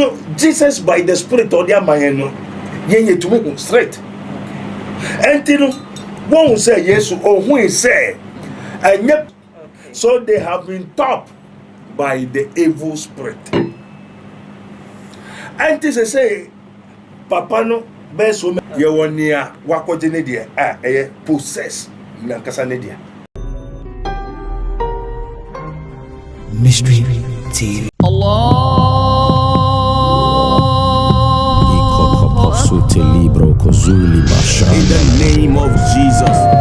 So Jesus by the spirit ɔde ama yɛn no, yɛn yɛtumi hu straight. Ɛnti no, wɔhu sɛ Yesu ɔhui sɛ ɛnyɛ so they have been taught by the evil spirit. Ɛnti sɛ sɛ Papa no bɛyɛ so many. Yɛ wɔ nea wakɔgye ne deɛ a ɛyɛ possess nankasa ne dea. Mystery TV. In the name of Jesus.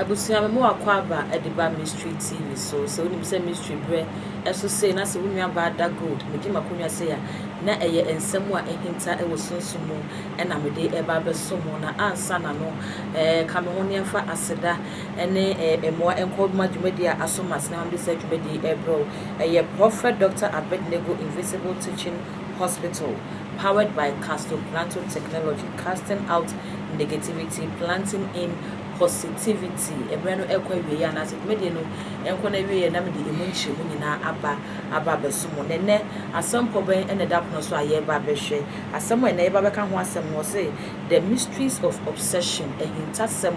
Abusua me mowɔ akwaaba de ba mystery TV so sɛ wonim sɛ mystery berɛ ɛso sei na sɛ wo nua baa da gold megye makonwa sei a na ɛyɛ nsɛm a ahinta wɔ sunsum mu na mede ɛba abɛso mo na ansa na no ɛɛ ka me ho ne ɛmfa aseda ne ɛɛ mmoa nkɔ ma dwumadie a aso masene ma mede saa dwumadie ɛbrɛ wo ɛyɛ Prophet Dr. Abednego Invisible Teaching Hospital, powered by Castle Plateau Technology, casting out negativity, planting in positivity. Ɛberɛ no ɛrekɔ awieɛ anaasɛ dwumadie no ɛrekɔ n'awieɛ na mede ɛmu nkyerɛmu nyinaa aba aba abɛso mo. Na ɛnnɛ asɛmpɔ bɛn na ɛda pono so a yɛreba abɛhwɛ? Asɛm a ɛnnɛ yɛba abɛka ho asɛm no wɔse The Mysteries of Obsession, Ahintasɛm,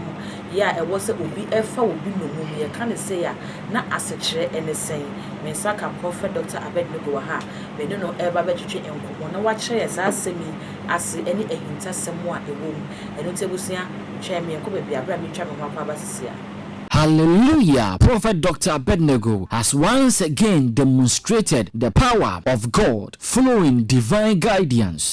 Yɛ a ɛwɔ sɛ obi fa obi nnommum. Yɛka no sei a na asekyerɛ ne sɛn? Me nsa ka Prɔfɛt Dɔkta Abednego wɔ ha a me ne no reba abɛtwetwe nkɔmmɔ na wakyerɛ yɛn saa asɛm yi ase ne ahintasɛm a ɛwɔ mu. Ɛno nti abusua, twɛn me yɛnkɔ baabi a bere a meretwa me ho akwaaba sisi a. Hallelujah, Prophet Doctor Abednego has once again demonstrated the power of God flowing divine guidance.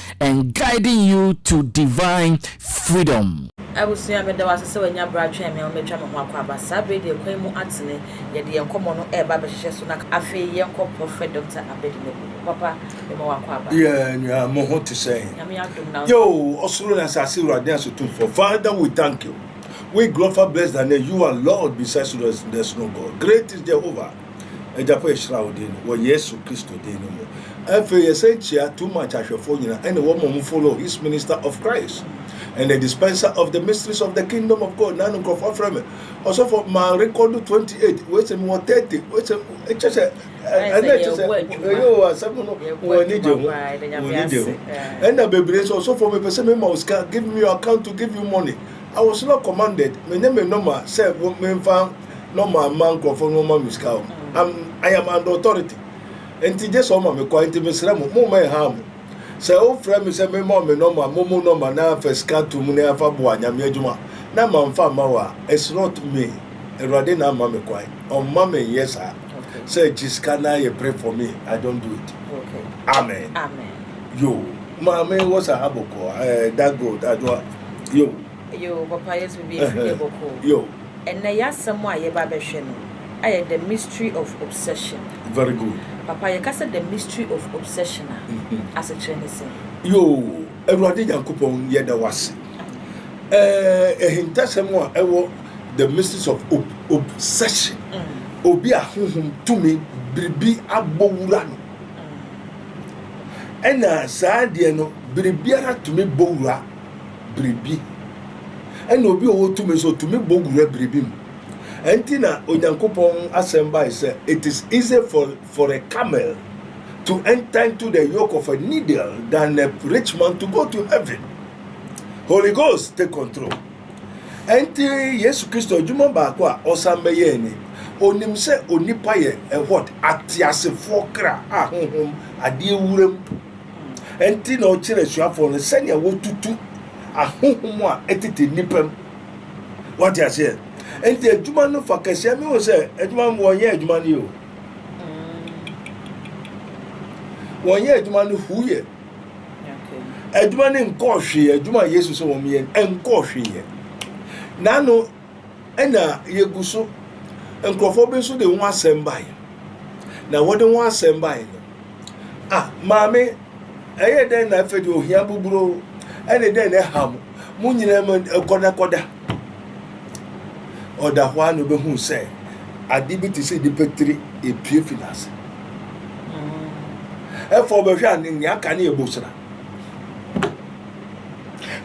and guiding you to divine freedom. Abusua, meda wo ase sɛ w'anya berɛ atwɛn me ama matwa me ho akwaaba saa berɛ deɛ kwan mu atene, yɛde yɛn nkɔmmɔ no reba abɛhyehyɛ so na afei yɛnkɔ Prophet Doctor Abed Megu. Wo papa, mema wo akwaaba. Yeah nua mo ho te sɛn. Nyame adom na. Yo ɔsoro ne asase wura den aso tumfoɔ father we thank you we glorify bless thy name you are lord besides you there's no God great is Jehovah. Agya pa yɛhyira wo din no wɔ yesu kristo din no mu afei yɛsɛ kyia too much ahwɛfoɔ nyina ɛne wɔn mom follow his minister of Christ and the dispenser of the mysteries of the kingdom of God na no nkurɔfoɔ afrɛ me ɔsɔfo ma record 28 wei sɛ mewɔ 30 wei sɛ ɛkyɛ sɛ ɛnɛ kyɛ sɛ ɛyɛ o asɛm no wɔn ani gye ho wɔn ani gye ho ɛna bebree sɛ ɔsɔfo mepɛ sɛ mema wo sika give me your account to give you money I was not commanded menyɛ me nɔma sɛ memfa na ɔma ma nkurɔfoɔ no ɔma me sika o am I am under authority nti gye sɛ ɔma me kwan nti mesrɛ mo mo ma ɛha mo sɛ wofrɛ me sɛ mema me nɔma mo mo nɔma na afa sika to mu na afa boa nyame adwuma na ma mfa ma wo a it's not me awurade na ama me kwan ɔmma me nyɛ saa sɛ gye sika na yɛ pray for me I don't do it okay. amen amen yo maame wɔ sa abɔkɔ ɛɛ eh, that gold adwoa yo Yoo papa yesu bɛbi afu yɛ bɔkɔɔ ɛnɛ yasɛm a yɛba bɛhwɛ no ayɛ the mystery of obsession very good papa yɛkasɛ the mystery of obsession a asekyerɛ ne sɛn. Yoo awurade nyankopɔn yɛda wase ɛɛ ɛhintasɛm a ɛwɔ the mystery of ob obsession mm. obi a honhom tumi biribi abɔ wura no ɛna mm. saa deɛ no biribiara tumi bɔ wura biribi, ɛnna obi a ɔwɔ tumi nso otumi bɔ wura biribi mu. Ɛnti na Onyankopɔn asɛm bae sɛ, It is easy for, for a camel to enter into the yoke of a needle than a rich man to go to heaven. Holy Ghost take control. Ɛnti Yesu Kristo adwuma baako a ɔsan bɛyɛɛ ni. Onim sɛ onipa yɛ ɛwɔt ateasefoɔ kra a honhom adeɛ wuram. Enti na ɔkyerɛ asuafoɔ no sɛnea wɔtutu ahohom a ɛtete nnipa mu. Wate aseɛ? Enti adwuma no fa kɛseɛ. Mehu sɛ adwuma no wɔnyɛ adwuma no yɛ o. Wɔnyɛ adwuma no hu yɛ. Adwuma no nkɔɔ hwee. Adwuma a Yesu sɛ wɔn yɛ nkɔɔ hwee yɛ. N'ano Ɛnna yegu so. Nkurɔfoɔ bi nso de ho asɛm baeɛ. Na wɔde ho asɛm baeɛ no, ah, maame, ɛyɛ dɛn na afei de ohia boburo ɛne dɛn na ɛha mo? Mo nyinaa mu kɔdakɔda. Ɔda hɔ a na ɔbɛhu sɛ ade bi te sɛ nipa tiri epie fi n'ase. Ɛfɔ mm. ɔbɛhwɛ a ne nea aka ne ɛbosira.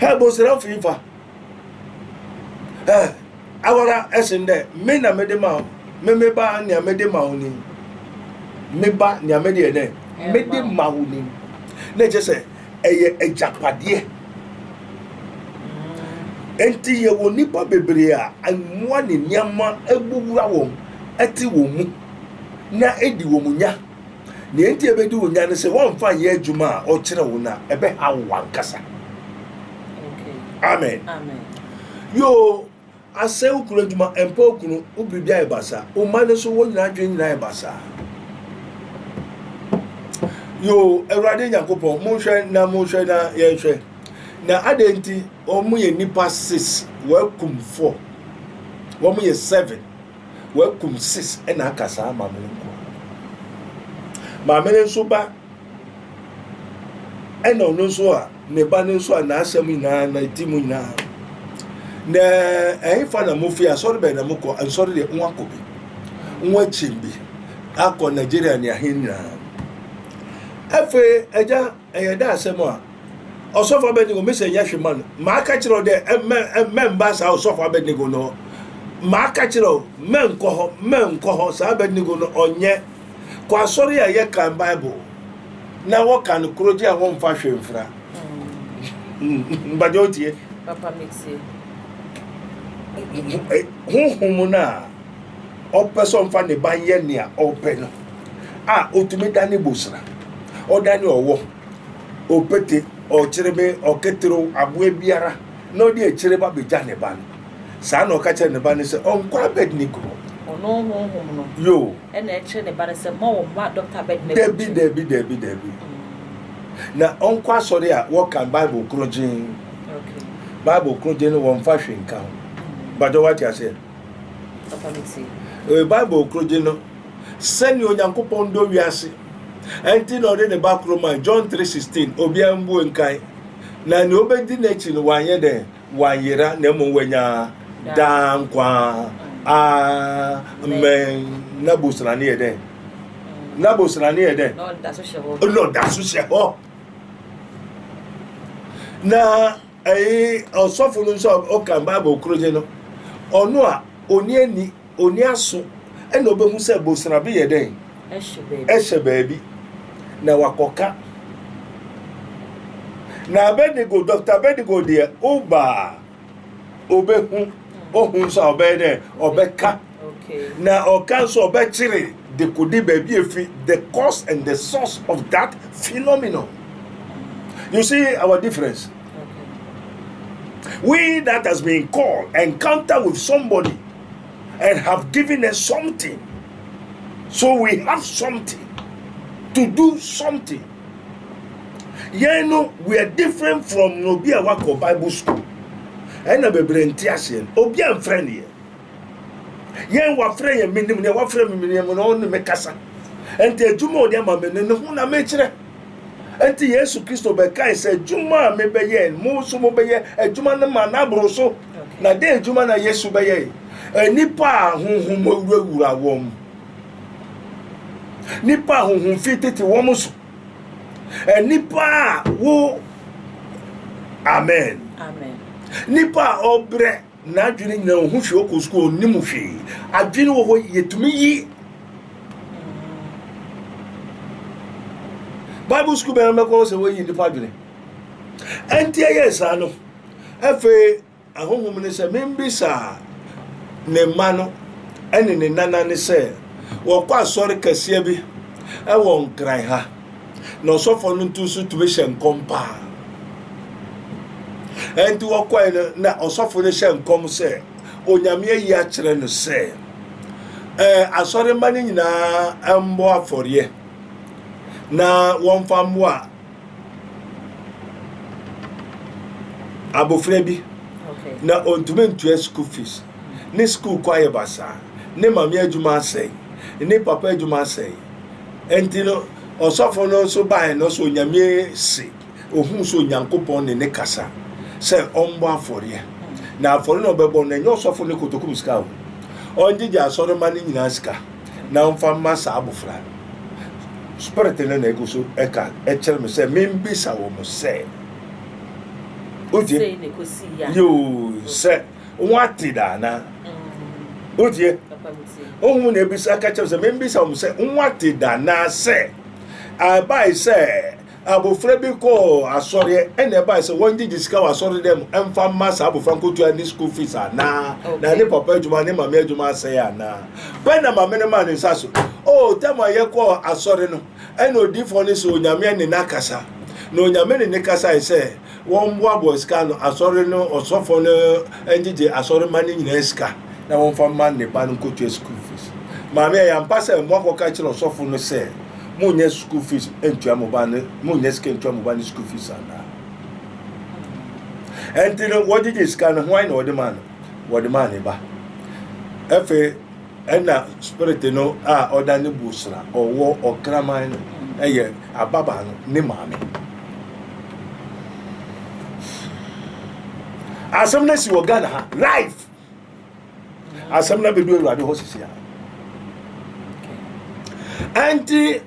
Ɛbosira fi fa. Eh, awara ɛsen dɛ me na mede ma wo, me me ba nea mede ma wo ni. Me ba nea mede yɛ dɛ, mede ma wo ni. Na ɛkyɛ sɛ ɛyɛ agyapadeɛ. Enti yɛwɔ nnipa bebree a mmoa ne nneɛma abuwura wɔn, ɛte wɔn mu, na edi wɔn nya. Nea enti a ebedi wo nya ne sɛ woamfa anyɛ adwuma a ɔkyerɛ wo no a, ɛbɛhaw wo ankasa. Amen. Yoo, asɛe wo kunu adwuma, ɛmpa wo kunu, wo biribi ayɛ basaa, wo mma no nso wɔn nyinaa adwene nyinaa ayɛ basaa. Yoo, Awurade Nyankopɔn, monhwɛ na monhwɛ na yɛnhwɛ. Na adɛn nti wɔn yɛ nipa six, wɔakum four, wɔn yɛ seven. Wakum sis na aka saa ama me nko ara. Maame no nso ba ɛna ɔno nso a ne ba no nso a n'asɛm nyinaa na ɛti mu nyinaa na ɛhefa na mo fi asɔre bɛn na mo kɔ nsɔre deɛ ho akɔ bi ho akyi bi akɔ nigeria ne ahe nyinaa afei agya Ɛyɛ dɛ asɛm a Ɔsɔfo Abednego mese nyɛ hwe ma no. Maka kyerɛ wo dɛ mɛmba saa Ɔsɔfo Abednego no hɔ. Maka kyerɛ wo, mɛnkɔ hɔ, mɛnkɔ hɔ. Saa Abednego no ɔnyɛ. Kɔ asɔre a yɛkan Bible na wɔka no korɔgye a wɔmfa hwe mfra. Mpakyɛ wotie? Papa metie. Honhom no a. ɔpɛ sɛ ɔmfa ne ba nyɛ nea ɔpɛ no a otumi da ne bosra ɔda ne ɔwɔ ɔpete ɔkyerebe ɔketerew aboa biara na ɔde akyire ba begya ne ba no saa na ɔka kyerɛ ne ba no sɛ ɔnkɔ abednego hɔ ɔno honhom no yo ɛna ɛkyerɛ ne ba no sɛ ma wɔn ma dɔkta abednego dabi dabi dabi dabi mm. na ɔnkɔ asɔre a wɔkan bible korogyen bible korogyen no wɔmfa hwe nka ho mm. badɔ wate aseɛ Papa no tie. Ee, Bible koro gye no sɛnea Onyankopɔn dɔ wiase nti na ɔde ne ba koro mae, John 3:16, obiara mmue nkae, na nea obedi n'akyi no wanyɛ dɛn? Wanyera, na mmom wanya daa nkwa. Amen. Na bosra ne yɛ dɛn? Na bosra ne yɛ dɛn? Na ɔda so hyɛ hɔ. Na ɔsɔfo no nso a ɔkan bible korogye no ɔno a ɔni ani ɔni aso ɛna ɔbɛhu sɛ bosrabe yɛ dɛn ɛhyɛ baabi na wakɔka na abednego dr abednego deɛ ɔbaa ɔbɛhu ɔhu nso a ɔbɛyɛ dɛn ɔbɛka Na ɔka nso ɔbɛkyere dekode baabi efi the cause and the source of that phenomenon. You see our difference. We that has been called encounter with somebody and have given us something. So we have something to do something. You know, we are different from Nobia Wako Bible School. And a bebree nti aseɛ obi amfrɛ neɛ yɛn wafrɛ yɛn menim nea wafrɛ me menim na ɔne me kasa ɛnti adwuma a ɔde ama me no ne ho na mekyerɛ ɛnti yesu kristo bɛkae sɛ adwuma a mebɛyɛ mo nso mobɛyɛ adwuma no ma n'aboro so na dɛn adwuma na yesu bɛyɛ nnipa a honhom awurawura wɔn nnipa a honhom fi tete wɔn so nnipa a wo amen nnipa a ɔbrɛ N'adwene nyinaa ɔho hwee ɔkɔ sukuu ɔnim hwee adwene wɔ hɔ yɛtumi yi bible sukuu bɛn bɛkɔ hɔ sɛ wɔyi nnipa adwene ɛnti ɛyɛ saa no afei ahohom ne sɛ membisaa ne mma no ɛne ne nana ne sɛ wɔkɔ asɔre kɛseɛ bi ɛwɔ nkran ha Na ɔsɔfoɔ no nto nso tumi hyɛ nkɔm paa. Ɛnti wɔkɔe no na ɔsɔfo no hyɛ nkɔm sɛ onyame ayi akyerɛ no sɛ ɛɛ asɔremma no nyinaa mbɔ afɔreɛ na wɔmfa mmoa abofra bi na ɔntumi ntua school fees ne school kɔ ayɛ basaa ne maame adwuma asɛe ne papa adwuma asɛe Enti no, ɔsɔfo no nso bae no, sɛ Onyame se, ohuu sɛ Onyankopɔn ne ne kasa sɛ ɔmbɔ afɔreɛ. Na afɔre na ɔbɛbɔ no, ɛnyɛ ɔsɔfo ne kotokum sika o. Ɔngyegye asɔremma no nyinaa sika, na ɔmfa mma saa abofra no. Spirit no na egu so ɛka ɛkyerɛ me sɛ membisa wɔn sɛ, Wogye? Yoo, sɛ wɔn ate da anaa wotie ohun na ebisa aka kyerɛ sɛ membisa wɔn sɛ wɔn ate da anaa sɛ ɛbae sɛ abofra bi kɔɔ asɔreɛ ɛna ɛbae sɛ wɔngyegye sika wɔ asɔre dɛ mu ɛmfa mma saa abofra nkotua ne school fees anaa na ne papa adwuma ne maame adwuma asɛe anaa bɛn na maame no maa ne nsa so o tɛm a yɛkɔɔ asɔre no ɛna odiifoɔ no sɛ onyame ne n'akasa na onyame ne ne kasae sɛ Wɔmboaboa sika ano, asɔre no ɔsɔfo no ngyegye asɔrmba no nyina sika na wɔmfa mma ne ba no nkotua skuul fees. Maame, ɔyɛ ampa sɛ moakɔka akyerɛ ɔsɔfo no sɛ monnya skuul fees nntua mo ba no, monnya sika nntua mo ba no skuul fees anaa? Ɛnti no wɔgyegye sika no, hwan na wɔde maa no? Wɔde maa ne ba. Ɛfei. Nna Spirit no a ɔda no bus na ɔwɔ ɔkraman no yɛ ababaa no ne maame. Asɛm no si wɔ Ghana ha live. Asɛm no bɛdu Awurade hɔ sisi a. Ɛnti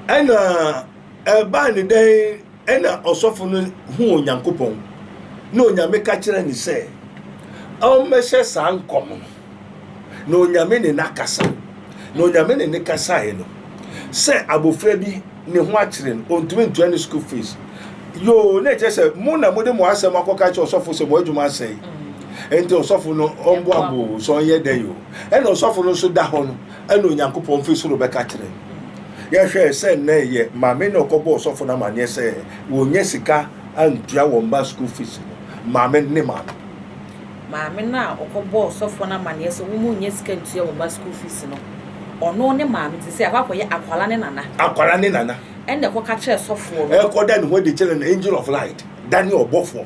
ɛna ɛbaa ne dɛn Ɛnna ɔsɔfo no huu Onyankopɔn, na Onyame ka kyerɛɛ no sɛ ɔmmɛhyɛ saa nkɔm no. Na Onyame ne no akasa. Na Onyame ne no kasaeɛ no, sɛ abɔfra bi ne ho akyere no, ɔntumi ntua ne school fees. Yoo, na ɛkyerɛ sɛ mo na mode mo asɛm akɔka kyerɛ ɔsɔfo sɛ mo adwuma asɛe. Ɛnti ɔsɔfo no ɔmboa mo o, sɛ ɔnyɛ dɛn o. Ɛnna ɔsɔfo no nso da hɔ no, ɛna Onyankopɔn fi soro bɛka kyerɛ. Yɛhwɛ sɛ nnɛ yɛ maame na ɔkɔbɔ ɔsɔfo no amanneɛ sɛ wɔnya sika antua wɔn mma school fees no. Maame ne maame. Maame no a ɔkɔbɔ ɔsɔfo no amanneɛ sɛ wɔn nnya sika ntua wɔn mma school fees no, ɔno ne maame nti sɛ akɔ akɔyɛ akwara ne nana. Akwara ne nana. Ɛna ɛkɔka kyerɛ sɔfoɔ no. Ɛkɔda ne ho adi kyerɛ no angel of light, da ne ɔbɔfoɔ.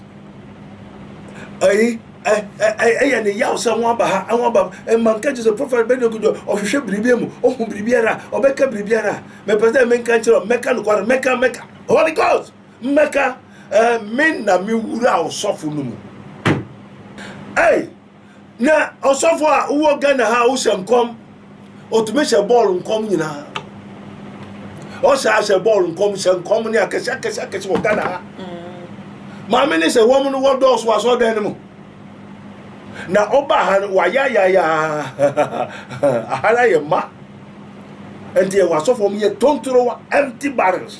ɛyi ɛyɛ ne yaw sɛ ho aba ha ho aba mma nka gye sɛ prɔfɛt bɛde okudu ɔhwehwɛ biribi mu ɔhu biribiara ɔbɛka biribiara mepɛ sɛ menka nkyerɛ mɛka nokware mɛka mɛka holy ghost mɛka ɛɛ me na me wura ɔsɔfo no mu ɛy Na ɔsɔfo a wowɔ Ghana ha a wohyɛ nkɔm ɔtumi hyɛ bɔɔl nkɔm nyinaa ɔhyɛ ahyɛ bɔɔl nkɔm hyɛ nkɔm ne akɛse akɛse akɛse wɔ Ghana ha maame ne sɛ wɔn no wɔdɔɔso asɔɔdan no mu na ɔba ha no wayayaya aha no ayɛ ma nti ɛwɔ asɔfo wɔn yɛ tontorowa empty barrels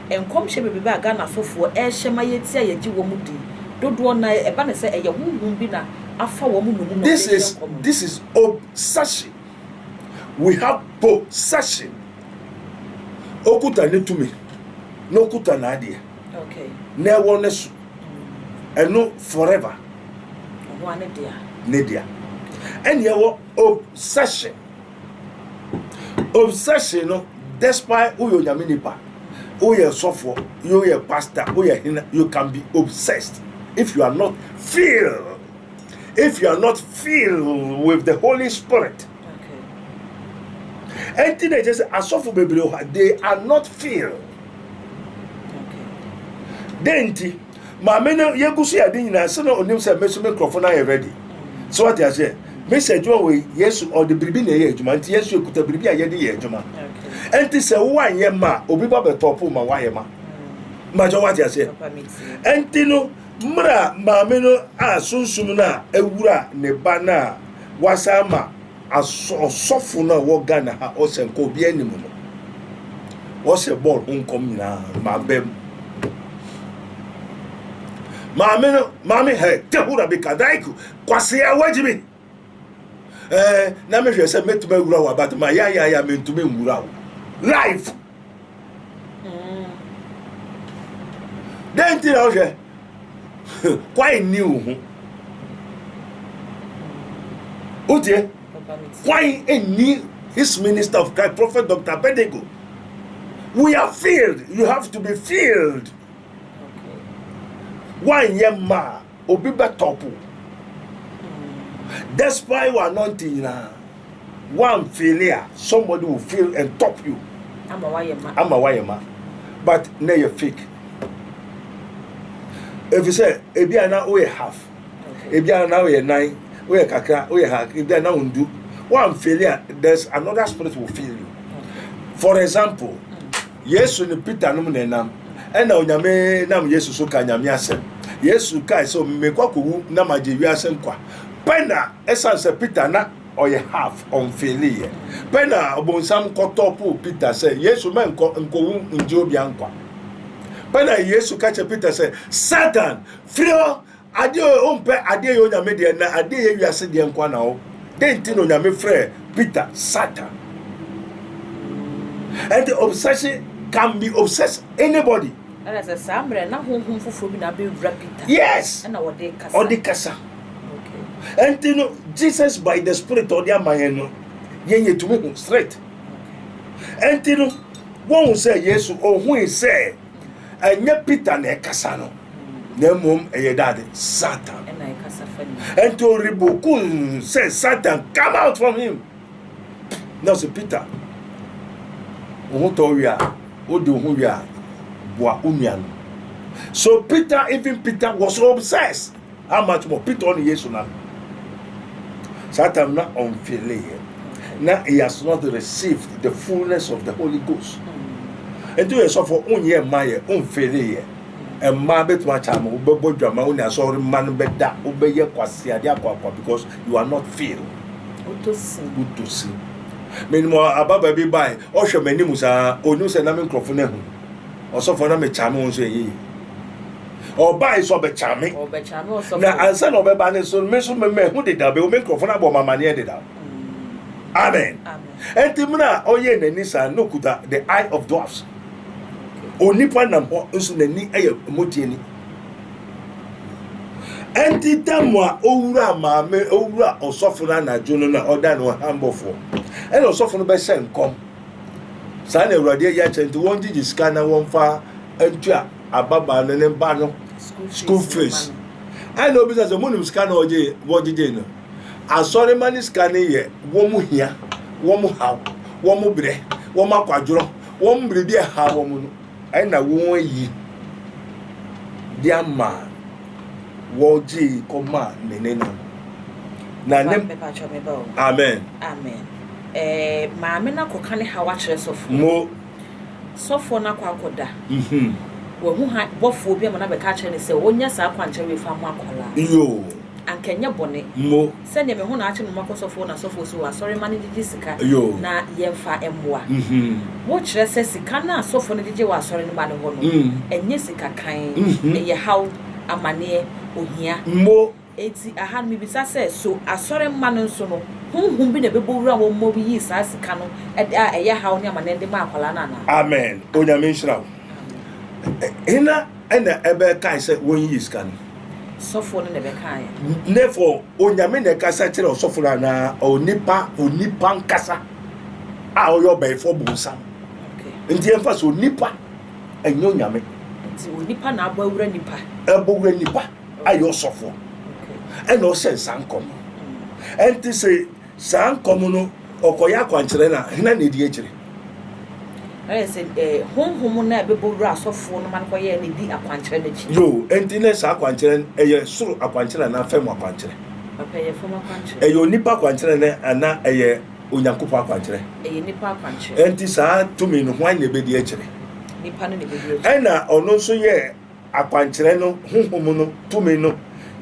Nkɔmhyɛ bebrebe a Ghanafo foɔ ɛrehyɛ ma yɛtie a yɛgye wɔn mu di dodoɔ no ara ɛba no sɛ ɛyɛ honhom bi na afa wɔn mu na wɔde This redi is nkɔmmɔ. this is ob session we have bo session okuta ne tumi na okuta n'adeɛ Okay. na ɛwɔ ne so ɛno forever Ɔno ara ne dea. ne dea ɛne ɛwɔ ob session. obsession no despite woyɛ onyame nipa woyɛ sɔfoɔ woyɛ pastor woyɛ hena you can be obsessed if you are not filled if you are not filled with the holy spirit ɛnti na ɛkyɛ sɛ asɔfo bebree hɔ they are not filled dɛn nti Maame no yɛgu so yɛ ade nyinaa sɛ na ɔnim sɛ me nso me nkurɔfo no ayɛ ready. So wate aseɛ? Miss adwuma wɔ yi, Yesu ɔde biribi na ɛyɛ adwuma nti yɛn nso yɛkuta biribi a yɛde yɛ adwuma. Ɛnti sɛ wo anyɛ mma a, obi ba bɛ tɔpo ma wayɛ ma. Mmakyɛ wate aseɛ? Ɛnti no mmerɛ a maame no a sunsum no a ɛwura ne ba no a wasan ma Asɔfo no a wɔ Ghana ha ɔsɛ nka obi anim no ɔsɛ bɔɔl ho nkɔm nyinaa maa bɛm maame no maame hɛ tehura bi ka daiku kwasi awagyi bi ɛɛ na mehwɛ sɛ mɛtumi awura wɔ abate ma yayaya mentumi nwura wo live dɛn nti na wohwɛ kwae nni wo ho wotie kwae nni his minister of christ prophet dr abednego we are filled you have to be filled woanyɛ mmaa Obi bɛ top wo despite wa anointing nyinaa wan feel a somebody will feel and top you ama wayɛ ma ama wayɛ ma but na yɛ fake efisɛ ebi a na woyɛ half ebi a na woyɛ nan woyɛ kakra woyɛ ha ebi a na wondu wan feel a there's another spirit will feel you for example. Yesu ne Peter nom na ɛnam. Ɛna Onyame nam Yesu so ka Nyame asɛm. Yesu kae sɛ mekɔ akɔwu na magye wiase nkwa. Pɛ na ɛsan sɛ Peter na ɔyɛ half, ɔnfeeli yɛ. Pɛ na ɔbonsam kɔtɔ po Peter sɛ Yesu mɛnkɔ nkɔwu ngye obia nkwa. Pɛ na Yesu ka kyerɛ Peter sɛ Satan firi hɔ Adeɛ o, wompɛ adeɛ yɛ Onyame deɛ na adeɛ yɛ wiase deɛ nkoa na wo Dɛn nti na Onyame frɛɛ Peter Satan? Ɛnti obsession can be obsess anybody. Ɛna sɛ saa mmerɛ na honhom foforɔ bi na abɛwura Peter Yes! ɛna ɔde rekasa. Ɔde kasa. Okay. Ɛnti no Jesus by the spirit a ɔde ama yɛn no yɛn yɛtumi hu straight. Ɛnti no wɔhu sɛ Yesu ohui sɛ ɛnyɛ peter na ɛkasa no na mmom ɛyɛ dade satan ɛnti ɔreboku sɛ satan come out from him na sɛ peter wo ho tɔ wie a wode wo ho wie a boa wo nua no so peter even peter was obsessed How much more? Peter ɔne Yesu na saa time na ɔnfeele yɛ na he has not received the fullness of the Holy Ghost. Nti yɛ sɔfo onyɛ mma yɛ ɔnfeele yɛ mmaa bɛtumi akyɛ ama wobɛbɔ dwama wo ne asɔre mma no bɛda wobɛyɛ kwaseade akwaakwa because you are not feel wotosi menim ababa bi bae ɔhwɛ m'anim saa ɔnim sɛ na me nkurɔfo no ahu ɔsɔfo na mekyame wo nso ɛyɛ yi ɔbae sɛ ɔbɛkyame me na ansa na ɔbɛba ne so me nso memahu dedaw bɛwo me nkurɔfo no abɔ mamaneɛ dedaw mm. amen ɛnti mmerɛ a ɔyɛ n'ani saa na ɔkuta the eye of dwarfs onipa nam hɔ nso n'ani yɛ mmɔgyeɛ ni ɛnti dɛm a owura maame owura ɔsɔfo no anadwo no na ɔda no hambɔfoɔ ɛna ɔsɔfo no bɛhyɛ nkɔm saa na awurade ayi akyerɛ nti wɔngyegye sika na wɔmfa ntua ababaa no ne ba no school fees ɛna obi sɛ sɛ monim sika na wɔgyegye no asɔrema ne sika no yɛ wɔn hia wɔn haw wɔn brɛ wɔn akwadworɔ wɔn biribi ɛha wɔn no Ɛna wɔayi de ama wɔgyee kɔma ne nena no. Na ne mepatwa me ba o. Amen. Amen. Eh, maame no akɔka ne haw akyerɛ sɔfoɔ. Mo. Sɔfoɔ no akɔ akɔda. Mhm. Wahu ha bɔfoɔ bi ama no abɛka akyerɛ no sɛ ɔnyɛ saa akwankyerɛ wei fa mo akwadaa. Yoo. Anka ɛnyɛ bɔne. Mo. sɛdeɛ me ho na akye no mma kɔsɔfoɔ na asɔfoɔ so wɔ asɔre mma no ngyegye sika na yɛmfa mmoa mo, kyerɛ sɛ sika no a asɔfoɔ no gyegye wɔ asɔre no mma no hɔ no ɛnyɛ sika kann, ɛyɛ haw, amaneɛ, ohia. Enti aha no mebisa sɛ, so asɔre mma no nso no honhom bi na ɛbɛbɔ wura wɔn ma wɔyi saa sika no de a ɛyɛ haw ne amaneɛ no de ma akwadaa no anaa? Amen Onyame nhyira wo. Hena na ɛbɛkae sɛ wɔnyiyi sika no? sɔfoɔ no na ɛbɛkaeɛ. Therefore, Onyame na ɛkasa kyerɛ ɔsɔfo no anaa onipa onipa nkasa a ɔyɛ ɔbɛnfoɔ bonsam. Nti ɛmfa so onipa ɛnyɛ Onyame. Nti onipa na abɔ awura nipa. Ɛbɔ wura nipa ayɛ ɔsɔfoɔ ɛna ɔhyɛ nsa nkɔm. Ɛnti sɛ Saa nkɔm no, ɔkɔyɛ akwankyerɛ no a, hena na edi akyire? Ayɛ sɛ eh, honhom no a ɛbɛbɔ wura asɔfoɔ no ma no kɔyɛɛ no di akwankyerɛ no akyi. Yoo, enti na saa akwankyerɛ no, ɛyɛ soro akwankyerɛ anaa fam akwankyerɛ? Papa, ɛyɛ fam akwankyerɛ. Ɛyɛ onipa akwankyerɛ ne anaa ɛyɛ Onyankopɔn akwankyerɛ? Ɛyɛ nipa akwankyerɛ. Enti saa tumi no, hwan na ɛbɛdi akyire? Nipa no na ɛbɛdi akyire. Ɛnna ɔno nso yɛɛ. akwankyerɛ no honhom no tumi no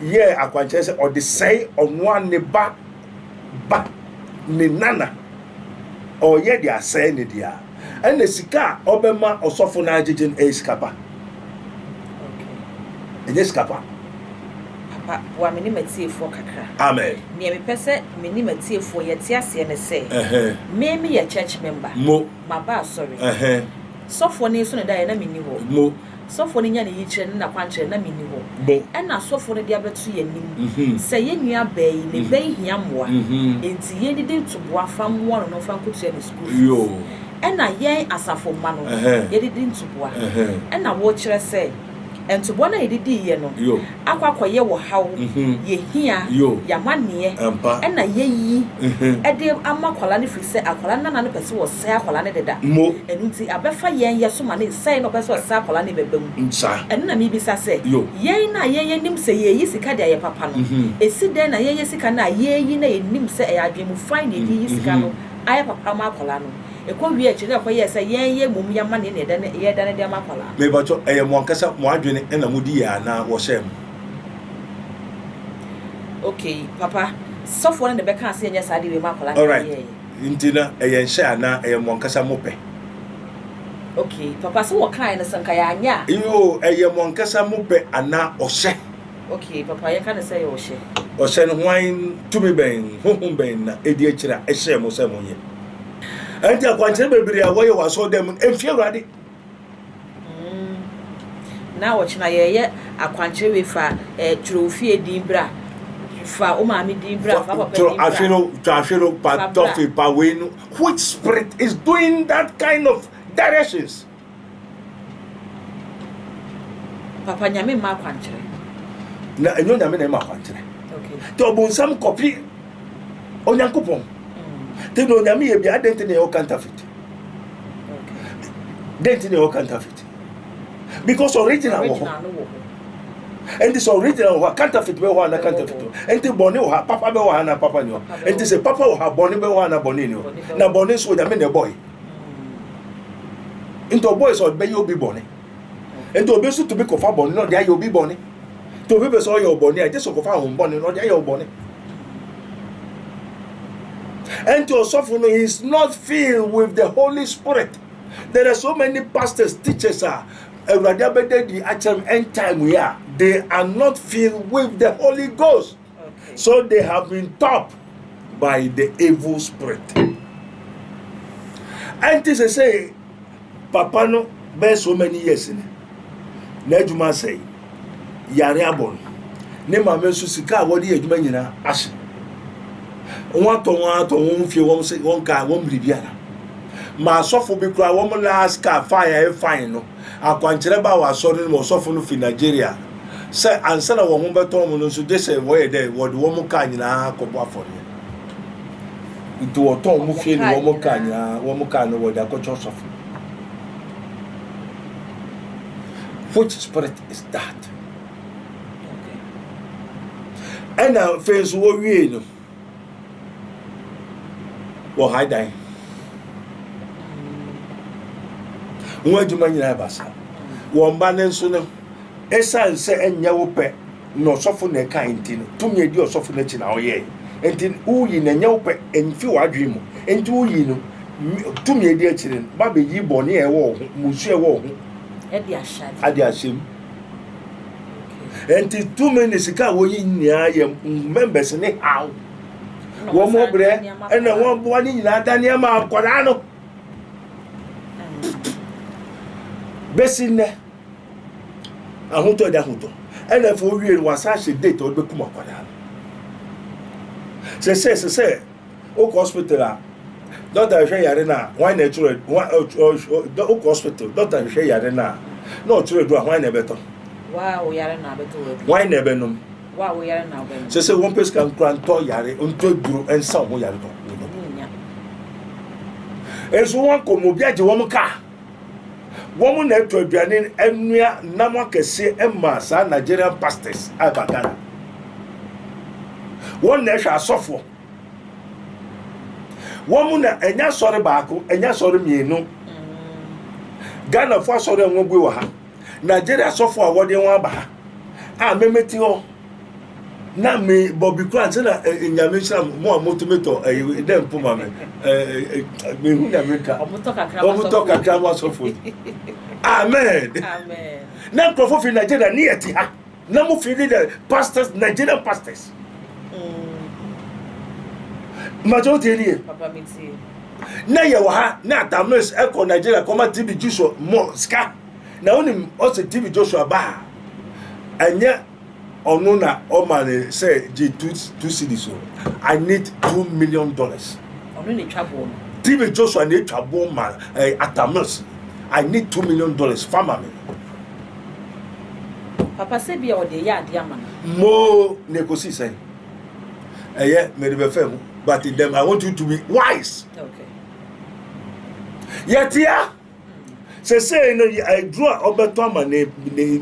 yɛɛ akwankyerɛ sɛ ɔde sɛe ɔnoa ne ba ba ne nana ɔyɛ de asɛe ne deɛ a ɛna sika a ɔbɛma ɔsɔfo no agyegye no ɛyɛ sika pa ɛnyɛ sika pa papa boa me ne m'atiefoɔ kakra amen neɛ mepɛ sɛ me ne m'atiefoɔ yɛte aseɛ ne sɛ me meyɛ church member mo maba asɔre Sɔfoɔ no eso no daeɛ, na menni hɔ. Mo. Sɔfoɔ no nya ne yikyerɛ ne n'akwankyerɛ, na menni hɔ. Mo. Ɛna sɔfoɔ no de abɛto yɛn anim sɛ, Yɛn nua baa yi, ne ba yi hia mmoa, enti yɛn didi ntoboa fa mmoa no na ɔmfa nkɔtua ne sukuu fees. Yoo. Ɛna yɛn asafo mma no, yɛde di ntoboa. Ɛna wokyerɛ sɛ. Ntoboa no a yɛde diiɛ no akɔ akɔyɛ wɔ haw, yɛhia, yɛamaneɛ, ɛna yɛyi de ama akwadaa no firi sɛ akwadaa no nana no pɛ sɛ ɔsɛe akwadaa no deda. Ɛno nti abɛfa yɛn yɛ so ma ne sɛe na ɔpɛ sɛ ɔsɛe akwadaa no bɛba mu. Ɛno na mebisa sɛ, yɛn no a yɛn yɛnim sɛ yɛreyi sika de ayɛ papa no, ɛsi dɛn na yɛyɛ sika no a yɛreyi na yɛnim sɛ ɛyɛ adwene mu fae na yɛde reyi sika no ayɛ papa ama akwadaa no? Ɛkɔ wie akyire na ɛkɔyɛɛ sɛ yɛn yɛ mmom yɛ amanneɛ na yɛdane yɛdane de ama akwadaa no. Mebakyɔ ɛyɛ mo ankasa mo adwene ɛna mo di yɛ anaa wɔ hyɛɛ mo. Okay papa sɔfoɔ no na ɛbɛkaa sɛ yɛnyɛ saa adeɛ wei ma akwadaa no na Alright yɛyɛɛ yɛ. nti na ɛyɛ nhyɛ anaa ɛyɛ mo ankasa mo pɛ. Okay papa sɛ wɔkaeɛ no so nka yɛanyɛ a. Yoo ɛyɛ mo ankasa mo pɛ anaa ɔhyɛ. Ok papa yɛka no sɛ yɛ ɔhyɛ. Ɔhyɛ no hwan tumi bɛn honhom bɛn na ɛdi akyiri a ɛhyɛɛ mo sɛ monyɛ? Ɛnti akwankyerɛ bebree a wɔyɛ wɔ asɔre dɛm no ɛmfi Awurade. Mm. Na ɔkyena yɛyɛ akwankyerɛ wei fa eh, twerɛ wo fie din bra fa wo maame din bra fa papa din bra twa ahwe no pa tɔfe pa wei no which spirit is doing that kind of directions Papa nyame mma akwankyerɛ. Na ɛnyɛ onyame na ɛma akwankyerɛ. Nti ɔbonsam kɔpi onyankopɔn. Mm. Nti na onyame yɛ bia adɛn nti na ɛwɔ counterfeit. Dɛn nti na ɛwɔ counterfeit. Because original wɔ hɔ. Nti sɛ original wɔ hɔ a counterfeit bɛ wɔ hɔ ana counterfeit wɔ hɔ. Nti bɔne wɔ hɔ papa bɛ wɔ hɔ ana papa ni hɔ. Nti sɛ papa wɔ hɔ a bɔne bɛ wɔ hɔ ana bɔne ni hɔ. Na bɔne nso onyame na ɛbɔ yi. nti ɔbɔe sɛ ɔbɛyɛ obi bɔne nti obi nso tumi kɔfa bɔne na ɔde ayɛ obi bɔne nti obi pɛ sɛ ɔyɛ ɔbɔne a ɛgye sɛ ɔkɔfa ahom bɔne na ɔde ayɛ ɔbɔne nti ɔsɔfo no he is not filled with the holy spirit there are so many pastors teachers a awurade abɛda di akyerɛ m end time yi a they are not filled with the holy ghost So they have been taught by the evil spirit. Ɛnti sɛ sɛ papa no bɛyɛ so many years ni n'adwuma sɛe yare abɔ no ne maame nso sika a wɔde yɛ adwuma nyinaa ahye wɔn atɔ wɔn atɔ wɔn fie wɔn se wɔn kaa wɔn biribiara ma asɔfo bi koraa wɔn last car fine a ɛyɛ fine no Akwankyerɛ baa wɔ asɔre no mu, ɔsɔfo no fi Nigeria, sɛ ansa na wɔn ho bɛtɔ wɔn no nso, gye sɛ wɔyɛ dɛ, wɔde wɔn kaa nyinaa kɔbɔ afɔreɛ. Nti wɔtɔn wɔn fie ne wɔn kaa nyinaa, wɔn kaa no wɔde akɔkyɛ ɔsɔfo no. Which spirit is that? Ɛna afei nso wɔwiei no. Wɔ ha dan. Wɔn adwuma nyinaa ba saa. Wɔn ba no nso no, ɛsan sɛ ɛnyɛ wo pɛ na ɔsɔfo na ɛka nti no, tumi edi ɔsɔfo n'akyi na ɔyɛ. Nti woyi na ɛnyɛ wo pɛ, ɛmfi w'adwene mu. Nti woyi no, tumi edi akyire no, ba bɛyi bɔne a ɛwɔ wo ho, mmusu a ɛwɔ wo ho. Adi ahyɛ mu. nti tumi ne sika a wɔyi nyinaa yɛ members ne haw wɔn brɛ ɛna wɔn boa ne nyinaa da nneɛma akwadaa no bɛsi nnɛ ahotɔ ɛda ahotɔ ɛna afei owie no wasan hyɛ date ɔde bɛkum akwadaa no sɛ sɛ sɛ sɛ wokɔ hospital a dɔkta hwehwɛ yare no a hwan na ɛtwerɛ wokɔ hospital dɔkta hwehwɛ yare no a na ɔtwerɛ du a hwan na ɛbɛtɔ hwan na ɛbɛnom sɛ sɛ wɔmpɛ sika nkora ntɔ yare ntɔ aduro nsa wo ho yare tɔ nso wɔnkɔ mu obi agye wɔn kaa wɔn na ɛtɔ aduane anua nam akɛseɛ ɛma saa nigerian pastors a ɛba ghana wɔn na ɛhwɛ asɔfoɔ wɔn mu na ɛnyɛ asɔre baako ɛnyɛ asɔre mmienu ghanafo asɔre a wɔabue wɔ ha nigeria asɔfo a wɔde wɔn aba ha a memete hɔ na me bɔbi kura nse na eh, nyame nhyira mo a motumi tɔ eh, dɛ mpo ma me eh, mehu na meka ɔmotɔ kakra mo asɔfo amen na nkurɔfo fi nigeria ne yɛte ha na mo fi ne dɛ pastors nigerian pastors màtí ó ti ẹni yẹ na yẹ wọ ha na atamis ẹkọ nigeria kọ ma tv joshua mọ sika na ó ní ọ sẹ tv joshua bá ha ẹnyẹ ọno na ọ ma ni sẹ gye two two cities o i need two million dollars tv joshua na etwa bọ ma eh, atamis i need two million dollars fama mi. Papa sɛ bia ɔde yɛ ade ama no. Moo na ekosi sɛn. Ɛyɛ mede bɛfɛ mu but them I want you to be wise. Okay. Yɛtea sɛsɛɛ no aduro a ɔbɛtɔ ama ne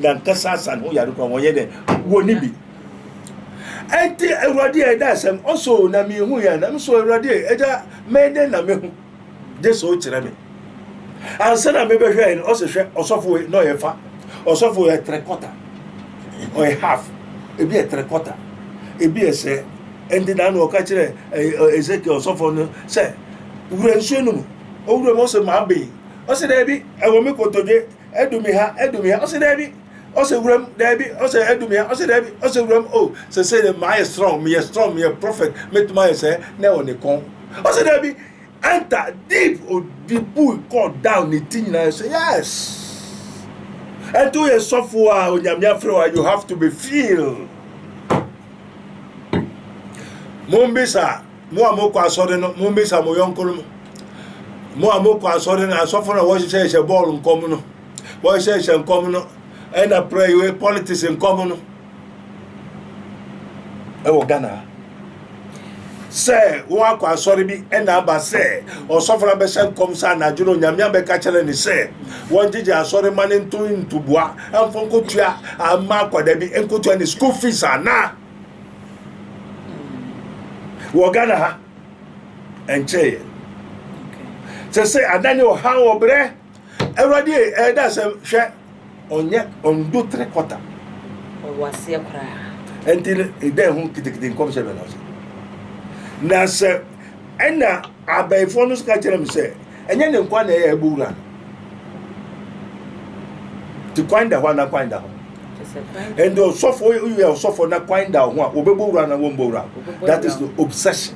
nankasa asa ne ho yare kora wɔnyɛ dɛ wɔni bi ɛnti awurade a ɛda asɛm ɔso na mehu yɛ na meso awurade ɛgya mɛdɛn na mehu gye sɛ wokyerɛ me. Ansa na mebɛhwɛe no, ɔse hwɛ ɔsɔfo wei na ɔyɛ fa. Ɔsɔfo yɛ three quarter, ɔyɛ half, ebi yɛ three quarter, ebi yɛ sɛ. Ɛnti na na ɔka kyerɛ Ezekiel ɔsɔfo no sɛ, wura nsuo no mu. Owura mu ɔse mabe. Ɔse daabi, ɛwɔ me kotodwe, ɛdu me ha, ɛdu me ha. Ɔse daabi. ɔsɛ wura mu daabi ɔsɛ adum yɛ ɔsɛ daabi ɔsɛ wura mu o oh, sɛsɛ dɛ maa yɛ strong meyɛ strong meyɛ prophet mɛtumi ayɛ sɛ na ɛwɔ ne kɔn ɔsɛ daabi enter deep odi bui call down ne ti nyinaa sɛ yes ɛnti woyɛ sɔfo a onyame afrɛ wa you have to be feel mombisa mo a mokɔ asɔre no mombisa mo yɔnko no mo a mokɔ asɔre no asɔfo no a wɔhyehyɛhyɛ bɔɔl nkɔm no Wɔnhyɛnhyɛ nkɔm no ɛna prɛyoe politics nkɔm no ɛwɔ Ghana sɛ wɔn akɔ asɔre bi ɛna aba sɛ ɔsɔfo no abɛhyɛ nkɔm sɛ anadwo no nyame abɛka kyerɛ ne sɛ wɔngyegye asɔre ma ne nto ntoboa ɛmfo nkotua ama akwadaa bi nkotua ne school fees anaa wɔ Ghana ha ɛnkyɛeɛ sɛ sɛ adane ɔhaw ɔbrɛ Awurade e, ɛyɛ dɛ asɛm, hwɛ, ɔnyɛ, ɔndo tere kɔta. Ɔwɔ aseɛ koraa. Ɛnti no, edɛn ho kitekite nkɔmhyɛ bɛ na ɔsɛ. Na sɛ, ɛna abayifoɔ no nso ka kyerɛ me sɛ, ɛnyɛ ne nkwa na ɛyɛ ɛbɔ wura no. Ti kwan da hɔ ana kwan da hɔ. Ɛnti ɔsɔfo, woyɛ ɔsɔfo na kwan da hɔ a, wɔbɛbɔ wura na wɔmbɔ wura. That is the obsession.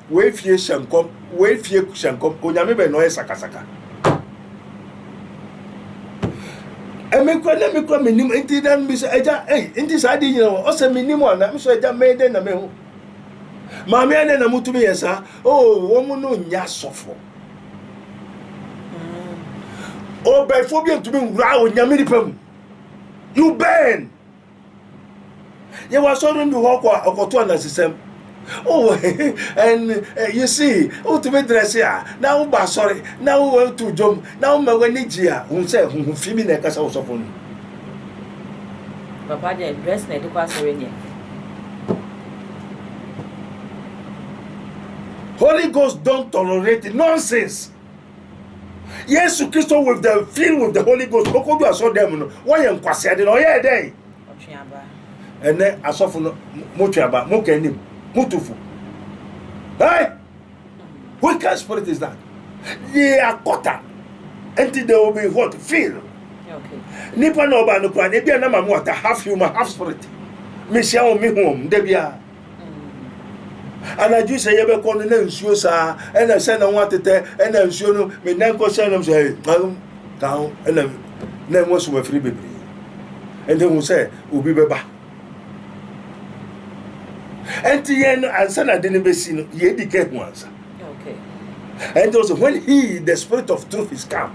Wei fie hyɛ nkɔm, wei fie hyɛ nkɔm, onyame bɛn na ɔyɛ sakasaka. ɛmi kura na mi kura mi nim nti na mi sɛ ɛgya ɛyi nti saa de nyina wɔ ɔsɛ mi nim ana mi sɛ ɛgya mɛyɛ dɛ na mi ho maame ɛdɛ na mo tumi yɛ saa oo wɔn no nya sɔfo ɔbɛnfo bi ntumi nwura onyame nipa mu you bɛn. Yɛwɔ asɔre no bi wɔ hɔ kɔ a ɔkɔto anansesɛm. Oh, and uh, you see, wotumi drɛse a na wobɔ asɔre na wotu dwom na woma w'ani gye a hu sɛ huhu fi bi na ɛka sɛ wosɔfo no. Papa deɛ dress na ɛde kɔ asɔre deɛ. Holy Ghost don't tolerate nonsense. yesu kristo with the filled with the holy ghost ɔkɔdu asɔ dɛm no wɔyɛ nkwasea de na ɔyɛɛ dɛn ɛnɛ asɔfo no motwe aba moka anim motofo hey what kind spirit is that they are quarter until they will be what filled nipa na ɔba no kora na ebi anam amu ata half human half spirit mehyia wɔn mehu wɔn da biara anadwo sɛ yɛbɛkɔ no na nsuo saa ɛna sɛ na ho atetɛ ɛna nsuo no meda nkɔ sɛ nom sɛ ɛyɛ ka ho ɛna na ɛho asom afiri bebree ɛnti hu sɛ obi bɛba ɛnti yɛn no ansa na ade no bɛsi no yɛdi ka ho ansa ɛnti ɔsɛ when he the spirit of truth is come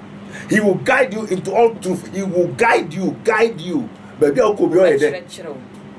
he will guide you into all truth he will guide you guide you baabi a wokɔ bi ɔyɛ dɛ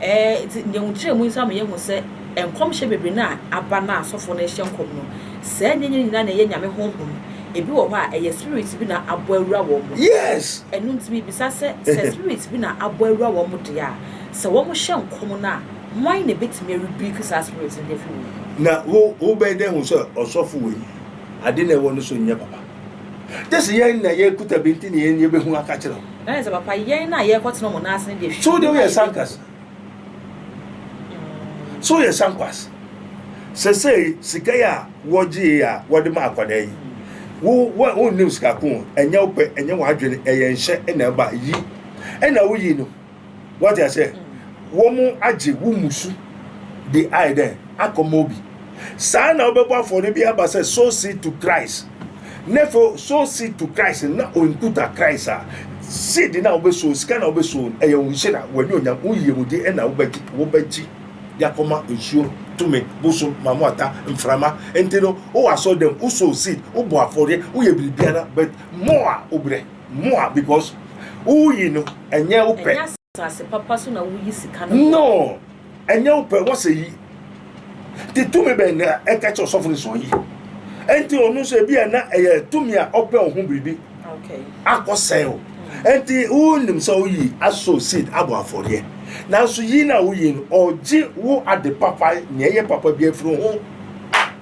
Ɛɛ, nti deɛ nkyerɛ mu nsa meyɛ ho sɛ nkɔmhyɛ bebree no a aba na asɔfo no rehyɛ nkɔm no, saa nneɛma nyinaa na ɛyɛ nyame honhom. Ebi wɔ hɔ a, ɛyɛ spirit bi na abɔ awura wɔn mu. Yes. Ɛno nti mibisa sɛ, sɛ spirit bi na abɔ awura wɔn mu deɛ a, sɛ wɔhyɛ nkɔm no a, hwan na ebetumi arebuke saa spirit no de afi wɔn mu? Na wo wobɛyɛ dɛ ahu sɛ ɔsɔfo wei ade na ɛwɔ ne so nyɛ papa? Gye sɛ yɛn na yɛkuta bi nti na yɛn yɛbɛhu aka kyerɛ wo. Ɛne sɛ, papa, yɛn na yɛrekɔtena wɔn nan ase no deɛ, hwɛ nneɛma a yɛbɛnya. So wode woyɛ sankwasa? So woyɛ sankwasa? Sesei, sika yi a wɔgyee a wɔde ma akwadaa yi, wo, wo, wonnim sika ko, ɛnyɛ wo pɛ, ɛnyɛ w'adwene, ɛyɛ nhyɛ na ɛba, yi. Ɛna woyi no. Wate aseɛ? Wɔn agye wo musu de ayɛ dɛn? Akɔma obi. Saa na wobɛbɔ afɔre bi aba sɛ, sow seed to Christ. Nefo sow seed to Christ na onkuta Christ a, seed na wobɛsow, sika na wobɛsow, ɛyɛ wo nhyira, w'ani onyam, wo yiyemudi ɛna wobɛgye, wobɛgye de akɔma nsuo, tumi, bosom, mamoata, mframa. Nti no, wowɔ asɔre dɛm, wosow seed, wobɔ afɔreɛ, woyɛ biribiara, but more a wobrɛ, more because woyi no, ɛnyɛ wopɛ. asase papa so na woyi sika no. No, ɛnyɛ wo pɛ wɔsɛ yi. Te tumi bɛn na ɛka kyɛ ɔsɔfo no sɔn yi. Ɛnti ɔno nso ebi a na ɛyɛ tumi a ɔpɛ ɔho biribi akɔsɛe o. Ɛnti wonim sɛ woyi aso seed abɔ afɔreɛ. Nanso yi na woyi no ɔgye wo ade papa nea ɛyɛ papa bi afiri ho.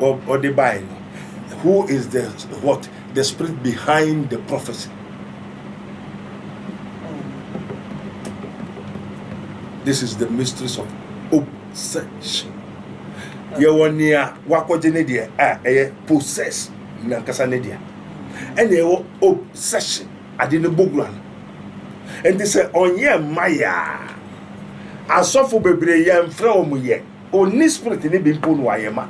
ɔde bae no, who is the what the spirit behind the prophecy. This is the mysteries of obsession. Yɛwɔ nea wakɔgye ne deɛ a ɛyɛ possess nankasa ne deɛ ɛna ɛwɔ obsession ade ne bogura no nti sɛ ɔnyɛ mma yɛ a asɔfo bebree yɛmfrɛ wɔn yɛ. Onni spirit no bi mpo na wayɛ ma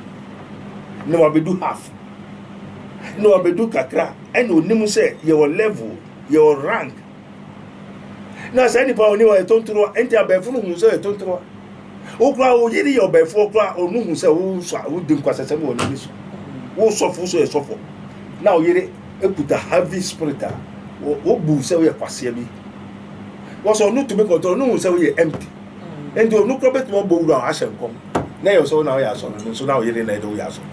na wabedu half na wabedu kakra ɛna onim sɛ yɛwɔ level yɛwɔ rank na saa nipa oni wɔ ɛtontoroa ɛnti abɛɛfo no hu sɛ ɛtontoroa wokura wo yiri yɛ ɔbɛɛfo okura onu hu sɛ wo sɔ wo di nkwasasɛm wɔ n'ani so wo sɔfo so yɛ sɔfo na wo yiri ekuta heavy spirit a wo bu sɛ woyɛ kwaseɛ bi wɔsɔ ɔno tumi kɔntɔ ɔno hu sɛ woyɛ empty. Enti ɔno kura bɛtumi abɔ wura hɔ ahyɛ nkɔm na ɛyɛ sɛ wo na woyɛ asɔ no, no nso na ɔyere na ɛdɛ woyɛ asɔ no.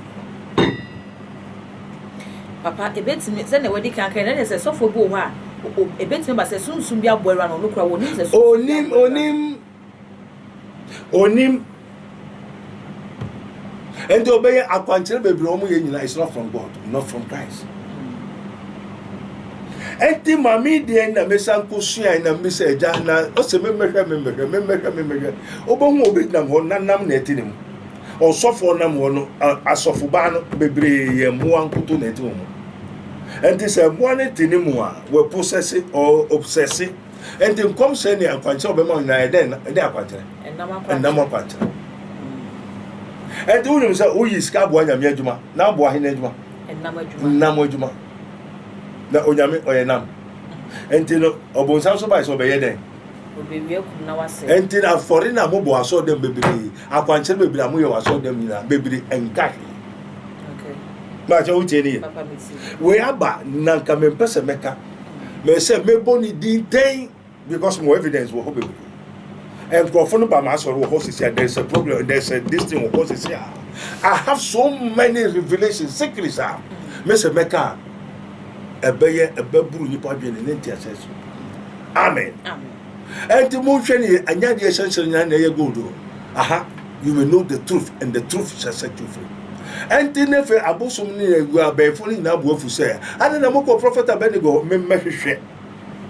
Papa, ebetumi, sɛnea wadi kan kan, ɛnɛ sɛ sɔfo bi wɔ hɔ a, ebetumi aba sɛ sunsum bi aboa awura no, ɔno kura wɔnim sɛ sunsum bi aboa awura no. Onim, onim. ɛnti ɔbɛyɛ akwankyerɛ bebree wɔn yɛ nyinaa it's not from God not from Christ ɛnti maame deɛ na mesa nko sua na mbisa ɛgya na ɔsɛ memmɛhwɛ memmɛhwɛ memmɛhwɛ memmɛhwɛ ɔbɛhu ɔbɛgyinam hɔ na nam na ɛte ne mu ɔsɔfoɔ nam hɔ no asɔfobaa no bebree yɛ mmoa nkoto na ɛte wɔn mu ɛnti sɛ mmoa no te ne mu a wɔpɔsɛse ɔpɔsɛse Enti nkɔmhyɛ ne akwankyerɛ ɔbɛma wo nyinaa yɛ dɛn ɛdɛ akwankyerɛ? Ɛnam akwankyerɛ. Enti wonim sɛ woyi sika boa nyame adwuma na aboa hene adwuma? Nam adwuma. Na onyame ɔyɛ nam. Enti no ɔbonsam so bae sɛ ɔbɛyɛ dɛn? Enti na afɔre na mobɔ asɔre dɛm bebree akwankyerɛ bebree a moyɛ wɔ asɔre dɛm nyinaa bebree nka he. Maakyɛ wotie ne yɛ. Wei aba na nka mempɛ sɛ mɛka. Mese mebo ne din dɛn because mo evidence wɔ hɔ bebree. Nkurɔfo no ba m'asɔre wɔ hɔ sisi a there is a problem there is a this thing wɔ hɔ sisi a I have so many revelations secrets a mese mɛka ɛbɛyɛ ɛbɛburu nipa adwene ne nteaseɛ so. Amen. Amen. Enti monhwɛ ne yɛ, ɛnyɛ adeɛ ɛhyɛ nhyerɛnhyerɛn na ɛyɛ gold o. Aha, you will know the truth and the truth shall set you free. Enti ne fe abosom ne agu abɛɛfo no nyinaa bu afu sɛ, adɛn na mokɔ Prɔfɛt Abednego hɔ? Memmɛhwehwɛ,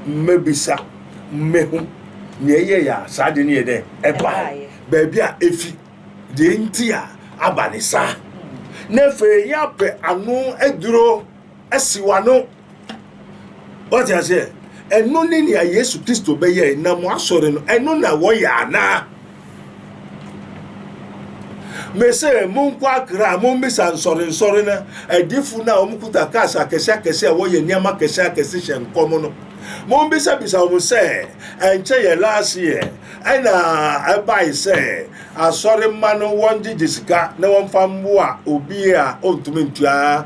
mmɛbisa, mmɛhu nea ɛyɛeɛ a saa ade no yɛ dɛn ɛbae, baabi a efi, deɛ enti a aba ne saa. Na afei yɛapɛ ano aduro asi w'ano. Wate aseɛ? Ɛno ne nea Yesu Kristo bɛyɛe na mo asɔre no ɛno na wɔyɛ anaa? Mese monkɔ akra a mommisa nsɔrensɔre no adifo no a wɔkuta cars akɛse akɛse a wɔyɛ nneɛma akɛse akɛse hyɛ nkɔm no. Mombisabisa wɔn sɛ ɛnkyɛ yɛ last year ɛna ɛbae sɛ asɔre mma no wɔngyegye sika na wɔmfa mmoa obi a ɔntumi ntua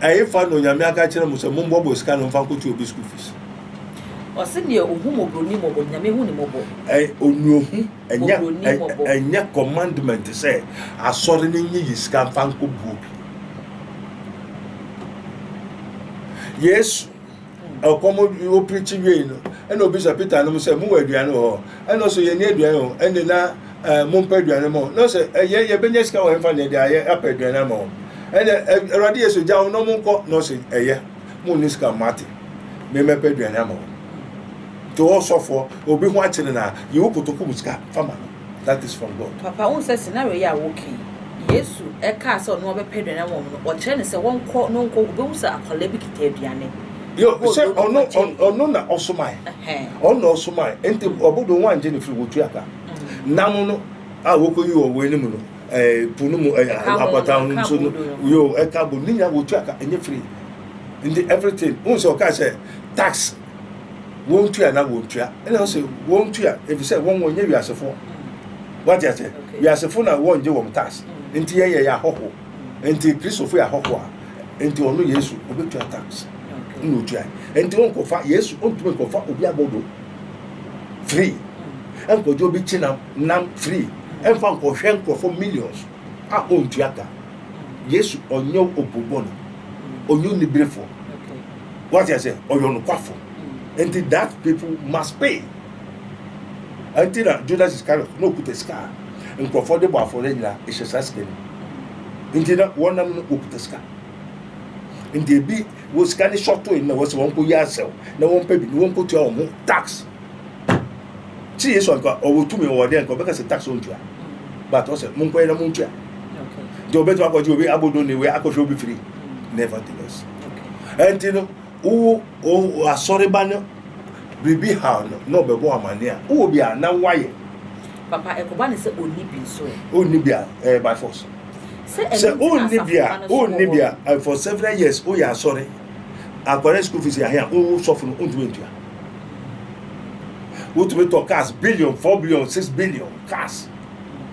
Ɛhefa na Onyame aka akyerɛ mo sɛ mombɔbɔ sika no mfa nkɔtua obi school fees? Ɔse neɛ ohu mɔborɔni mmɔbɔ, Nyame hu ne mmɔbɔ. Ɛy onuohu, ɛnyɛ ɛy ɛnyɛ commandment sɛ asɔre no nyiyi sika mfa nkɔbu obi. Yesu. ɔkɔm ɔpirikyi wiei no ɛna obisa peter nom sɛ mowɔ aduane wɔ hɔ ɛna ɔsɛ yɛni aduane wɔ ɛne na eh, mompɛ aduane ma na ɔsɛ ɛyɛ eh, yɛbɛnya sika wɔ hemfa na ɛde ayɛ apɛ aduane ama wɔn ɛna eh, awurade yesu gya wo na monkɔ na ɔsɛ ɛyɛ mo ne sika mate memɛpɛ aduane ama wɔn nti wɔsɔfoɔ obi ho akyere na yewo kotoku mu sika fama no that is from God. Papa wohu sɛ scenario yi a woka yi, Yesu kaa sɛ ɔno ɔbɛpɛ aduane ama wɔn no, ɔkyerɛ no sɛ wɔnkɔ na ɔnkɔ, wobɛhu sɛ akwadaa bi kita aduane. Yo, sɛ ɔno ɔno na ɔsomae, ɔno na ɔsomae, nti ɔbodo wɔn angye ne firi wɔtu aka. Mm. Nam no a wɔkɔyi wɔ wɔn anim no, eh, po no mu, eh, apata ho nso no, yo, ɛka bo, ne nyinaa wɔtu aka, ɛnyɛ firi. Nti everything, wohu sɛ ɔkaa sɛ tax wɔntua na wɔntua ɛna ɔsɛ wɔntua efisɛ wɔn wɔnyɛ wiasefoɔ wate ase wiasefoɔ na wɔngye wɔn tax nti yɛyɛ yɛ ahɔho nti kristofo yɛ ahɔho a nti ɔno yesu obetua tax na otua nti ɔnkɔfa yesu ɔntumi nkɔfa obi abɔdo free ɛnkɔgye obi kyinam nam free ɛnfa nkɔhwɛ nkurɔfo millions a ɔntua ka yesu ɔnyɛ obubɔ no ɔnyɛ oniberefoɔ What I say, ɔyɛ ɔnokwafo. Nti that people must pay. Nti na Judas Iscariot na okuta sika a nkurɔfoɔ de bɔ afɔre nyinaa ehyɛ saa sika no mu. Nti na wɔn nam no okuta sika. Nti ebi wɔ sika ne shɔto yi na wɔsɛ wɔn kɔ yi asɛw na wɔn pɛ bi na wɔn kɔ tua wɔn ho tax. Ti Yesu anka ɔwɔ tumi ɔwɔ deɛ nka ɔbɛka sɛ tax wɔn tua. But ɔsɛ mo nkɔ yɛ na mo ntua. Nti ɔbɛtumi akɔgye obi abodo ne wei akɔhwɛ obi firi. Nevertheless. ɛnti no wo wo asɔreba no biribi haw no na ɔbɛbɔ amane a wowɔ bi a na woayɛ papa ɛkɔba ne sɛ ɔnni bi nso ɛ wonni bi a ɛyɛ by force sɛ ɛno sɛ nti na wonni bi a asafo mma no so wɔ wonni hɔ bi a no. eh, for several years woyɛ asɔre akɔrɛ school fees ahe a wo sɔfo no wontumi ntua wotumi tɔ cars billion four billion six billion cars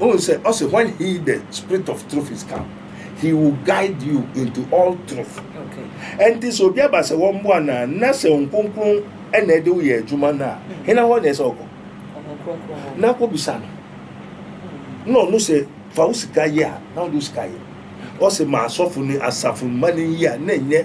Wohu sɛ ɔse when he the spirit of truth is come he will guide you into all truth. Ɛnti sɛ obi aba sɛ wɔmboa no a na sɛ nkonkron ɛna ɛde woyɛ adwuma no a hmm. hena hɔ na ɛsɛ ɔkɔ na akɔbisa no hmm. na ɔno sɛ fa wo sika yɛ a na wode wo sika yɛ ɔsɛ ma asɔfo ne asafo mma no yi a na ɛnyɛ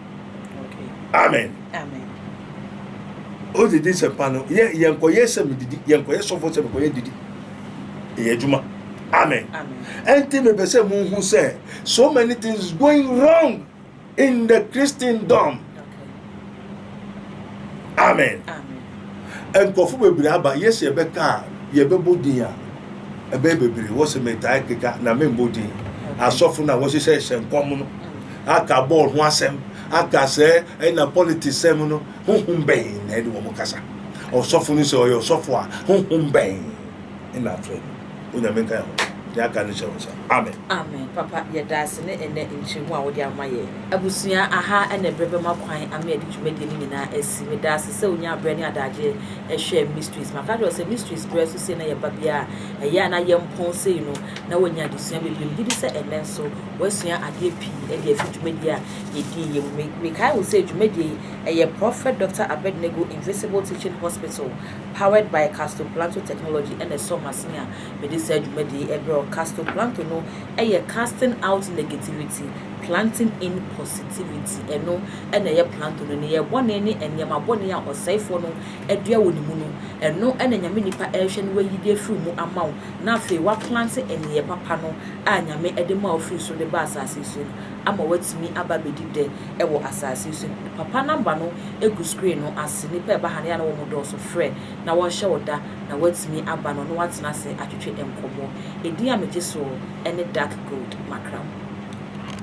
amen o didi sɛ pa no yɛ yɛn kɔyɛ sɛ mi didi yɛn kɔyɛ sɔfo sɛ mi kɔyɛ didi yɛ adwuma amen ɛnti mi bɛ sɛ mo hu sɛ so many things going wrong in the christendom amen nkɔfo bebree aba yɛ sɛ yɛbɛka a yɛbɛbɔ din a ɛbɛyɛ bebree wɔ sɛ metaa keka na membɔ din asɔfo no a wɔhyehyɛ hyɛ nkɔm no Aka bɔɔl ho asɛm, aka sɛ ɛna politics sɛm no, honhom bɛn na ɛne wɔn kasa? Ɔsɔfo no sɛ ɔyɛ ɔsɔfo a, honhom bɛn na afrɛ no? Onyame nka yɛn ho. Deɛ aka no hyɛ wo nsa. Amen. Amen papa yɛda ase ne ɛnɛ nkyerɛmu a wode ama yɛn. Abusua aha na ɛberɛ bɛma kwan ama yɛde dwumadie no nyinaa asi. Meda ase sɛ wonyaa berɛ ne adagyeɛ hwɛɛ Mysteries. Maka akyerɛ wo sɛ Mysteries berɛ so sei na yɛba biara a, ɛyɛ a na yɛmpɔn sei no na woanya adesua bebree. Megye di sɛ ɛnnɛ nso Woasua adeɛ pii de afi dwumadie a yɛdii yɛ mu. Me, mekae wo sɛ dwumadie yi, ɛyɛ Prophet Doctor Abednego Invisible Teaching Hospital, powered by Castoplanto Technology ɛna ɛsɔ m'asene a mede saa dwumadie yi brɛ wo. Castoplanto no yɛ Casting Out Negativity, Planting In Positivity. Ɛno na ɛyɛ planto no. Nneyɛɛ bɔne ne nneɛma bɔne a ɔsɛefoɔ no adua wɔ ne mu no, ɛno na Nyame nipa rehwɛ na wayi de afiri mu ama wo, na afei waplante nneyɛɛ papa no a Nyame de maa ofiri soro de baa asase yi so no ama watumi aba abɛdi dɛ wɔ asase yi so bio. Papa namba no gu screen no ase, nnipa a ɛba ha no yɛ a na wɔn dɔɔso, frɛ na wɔnhyɛ wo da na watumi aba na ɔne wo atena ase atwetwe nkɔmmɔ. Edin a megye soɔ ne Dark Gold, Makram.